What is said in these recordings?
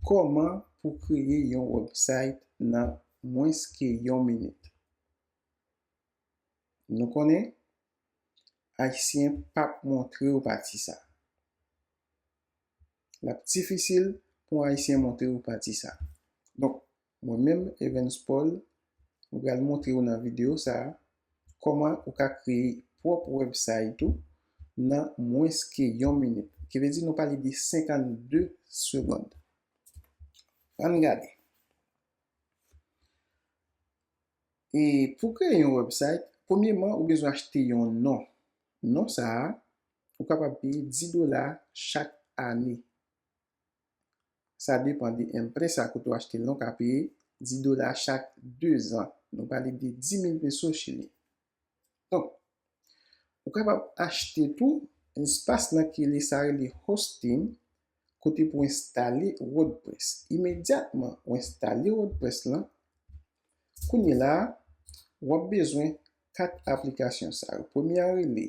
Kòman pou kreye yon website nan mwens ke yon minit? Nou konnen, ayisyen pap montre ou pati sa. Lap difisil pou ayisyen montre ou pati sa. Mwen menm Evens Paul, mwen pral montre ou nan videyo sa a kòman ou ka kreye pwòp wèbsayt ou nan mwens ke yon minit. Ki vle di nou pale de 52 segond. Ann gade. E pou kreye yon wèbsayt, premyeman ou bezwen achte yon non. Non sa a, ou kapab peye 10 dola chak ane. Sa depan de enprè sa kote w achte l la, w ka peye 10 dola chak dezan. Nou pale de 10.000 peso chili. Donk, ou kapab achte tou espas nan ki rele sa rele hosting kote pou enstale wordpress. Imedyatman ou enstale wordpress lan, kounye la a, w ap bezwen 4 aplikasyon sa yo. Premye a rele.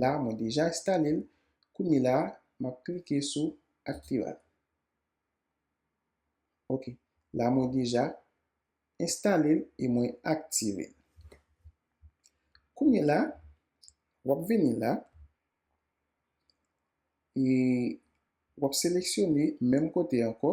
La mwen deja enstale l. Kounye la, m ap klike sou aktiva l. Ok, la mwen deja enstale l e mwen aktive l. Kounye la, w ap vini la e w ap seleksyone menm kote ankò.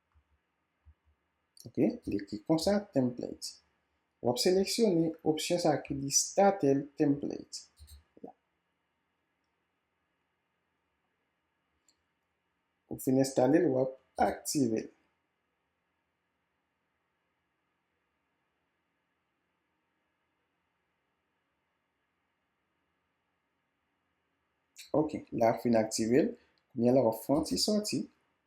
Ok, li ekri konsa template. W ap seleksyone opsyon sa ki di starter template. Ou fin enstale l, w ap aktive l. Ok, la fin aktive l. Kounye a la w ap fè yon ti sòti.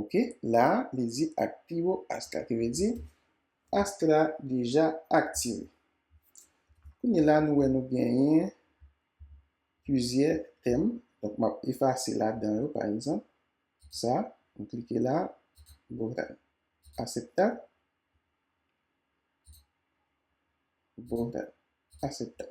Ok la a li di ak pi wo ask la ki vle di ask la deja aktive. Kounye la nou wè nou genyen plizyè tèm donk map efase ladan yo pa egzanp sa m klike la Boral aseptab Boral aseptab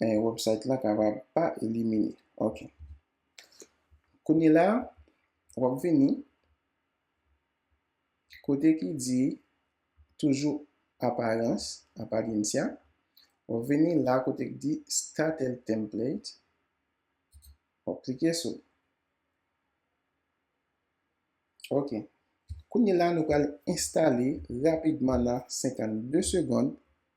eh, website la kapab pa elimine. Ok. Kounye la, wap vini kote ki di toujou aparans, apariencia, wap vini la kote ki di start el template, wap klike sou li. Ok. Kounye la nou pral enstale rapidman nan 52 segond.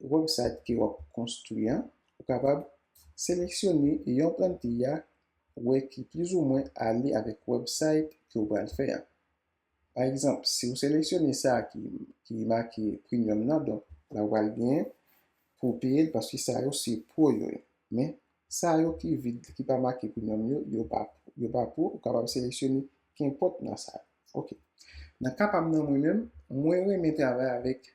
website ke wap konstwi an, ou kapab seleksyone yon plantille a wè ki plis ou mwen ale avèk website ke ou pral fè a. Pa egzanp, si ou seleksyone sa ki make premium nan, donk la ou pral gen pou peye l paske sa yo se pro yo ye. Men, sa yo ki vid, ki pa make premium yo, yo pa pro. Yo pa pro, ou kapab seleksyone kenpòt nan sa yo. Ok. Nan ka pa m nan mwen menm, mwen renmen travay avèk.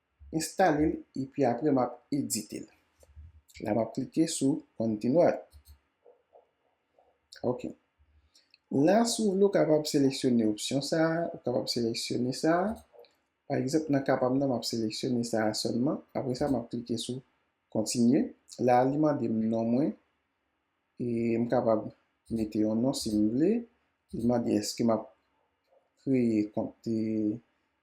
enstale l epi apre map edite l la map klike sou continue ok la si w vle w kapab seleksyone opsyon sa ou kapab seleksyone sa pa egzanp nan ka pa m nan map seleksyone sa sèlman apre sa map klike sou continue la li mande m non mwen e m kapab mete yon non si m vle li mande èske map kreye kont.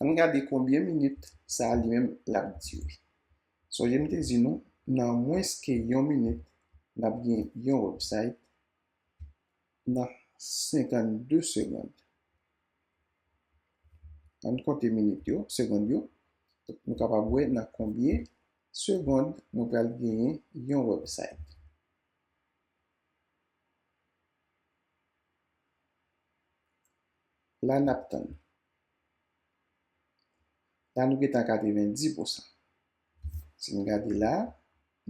Ann gade konbyen minit sa li menm l ap dire. Sonje m te di nou, nan mwens ke yon minit, n ap gen yon wèbsayt, nan 52 segond. Ann konte minit yo, segond yo, nou kapab wè nan konbyen segond nou pral genyen yon wèbsayt. La n ap tann. La nou gentan a 90 pou san. Si n gade la,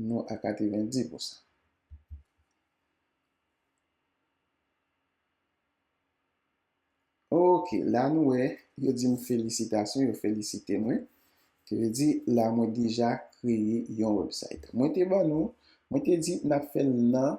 nou a 90 pou san. Ok, la nou wè, yo di m felisitasyon, yo felisite mwen. Ki vle di, la mwen deja kreye yon website. Mwen te ban nou, mwen te di n ap fè l nan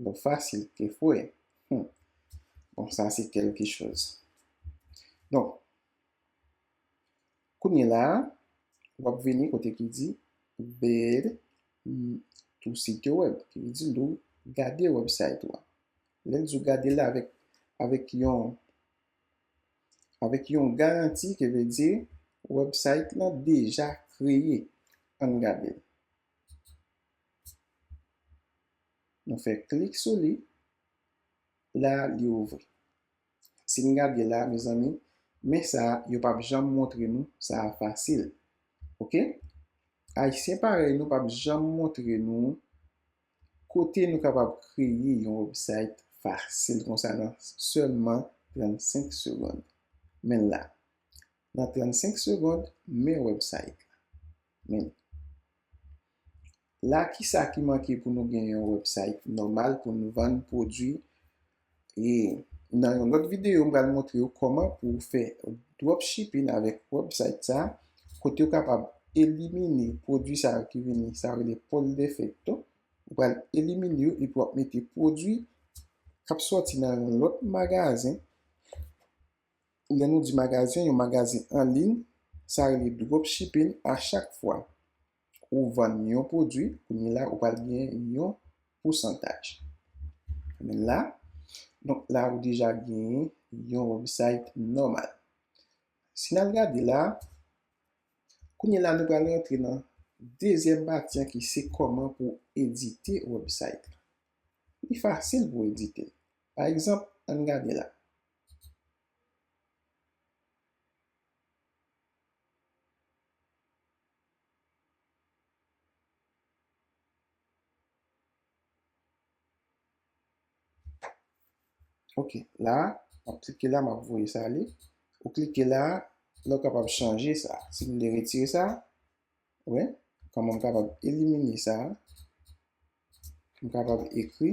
Dlo fasil ke fwe. Hum. Bon sa se kelke choz. Donk, kounye la a, w ap vini kote ki di Ver tu sitio web, ki vle di lè w gade wèbsayt ou a. Lè l di w gade l avèk, avèk yon, avèk yon garanti, ki vle di wèbsayt lan deja kreye. Ann gade l. Nou fè klik sou li, la li ouvri. Si n gade la mezanmi, men sa yo pap janm montre nou sa a fasil. Ok, ayisyen parèy nou pap janm montre nou kote nou kapab kreye yon website fasil konsa nan sèlman 35 segond. Men l la, nan 35 segond, men website la. Men la kisa ki manke pou nou gen yon website nòmal pou nou vann pwodwi e nan yon lòt videyo m pral montre ou kòman pou ou fè dropshipping avèk website sa kote ou kapab elimine pwodwi sa yo ki vini sa yo rele poll defecto ou pral elimine yo epi wap mete pwodwi kap sòti nan yon lòt magazen Lè nou di magazen, yon magazen an liy, sa rele dropshipping a chak fwa ou vann yon pwodwi kounye la ou pral gen yon pousantaj men la donk la ou deja gen yon website nòmal si nal gade la kounye la nou pral rantre nan dezyèm pati an ki se kòman pou edite website li fasil pou edite pa egzanp ann gade la. Ok, la, mwen klike la, mwen voye sa li. Ou klike la, lò kapab chanje sa. Si mwen de retire sa, wè, kòm mwen kapab elimine sa, mwen kapab ekri.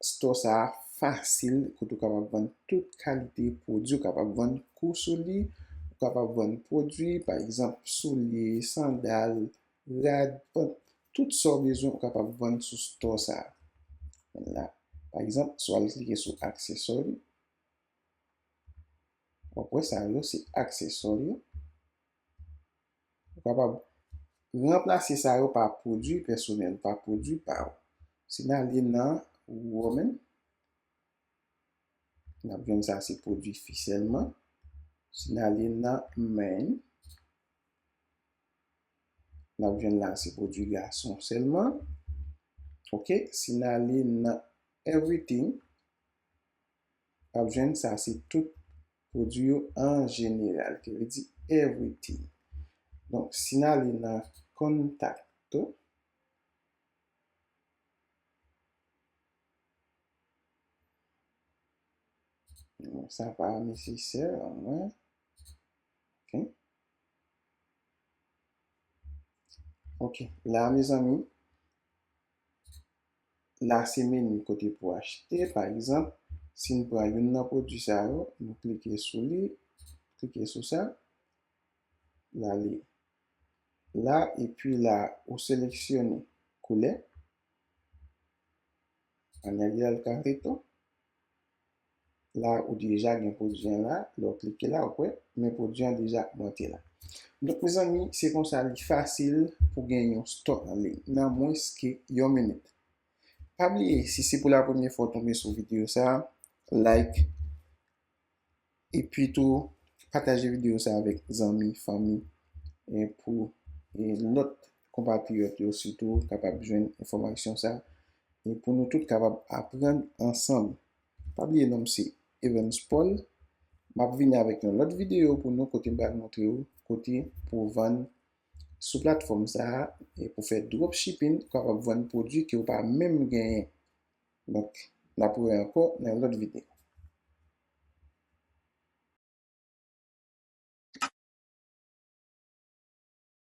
Store sa a fasil kote ou kapab vann tout kalite pwodui. Ou kapab vann kou sou li, ou kapab vann pwodui, pa egzanp, soulye, sandal, rad, pant, tout sa ou bezwen ou kapab vann sou Store sa a. Vann la. Pa egzanp, si w al klike sou aksesò yo, w ap wè sa yo se aksesò yo. Ou kapab ranplase sa yo pa pwodui pèsonèl, pa pwodui pa ou. Si n ale nan Women, n ap jwenn sa se pwodui fi sèlman. Si n ale nan Men, n ap jwenn la se pwodui gason sèlman. Ok, si n ale nan Everything, n ap jwenn sa se tout Pwodui yo an jeneral, ki vle di everything. Donk, si n ale nan Contacto. Donk, sa pa nesesè pou mwen. Ok. Ok. La, mezanmi. la se meni kote pou achte pa egzanp si n pran youn nan pwodui sa yo nou klike sou li klike sou sa n ale la epi la ou seleksyone koulè an ale al kareto. la ou deja gen pwodwi an la lè ou klike la ou k wè men pwodwi an deja ap monte la donk mezanmi se konsa li fasil pou gen yon stock an liy nan mwens ke yon minit pa bliye si se pou la premye fwa ou tonbe sou video sa like epi tou pataje video sa avèk zanmi fanmi pou lòt konpatriyòt yo sitou kapab jwenn enfòmasyon sa e pou nou tout kapab aprann ansanm. Pa bliye non m se Evens Paul, m ap vini avèk yon lòt videyo pou nou kote m pral montre ou kote pou w vann sou platfòm sa e pou fè dropshipping ou kapab vann pwodui ke ou pa menm genyen. Donk, n ap wè ankò nan yon lòt videyo.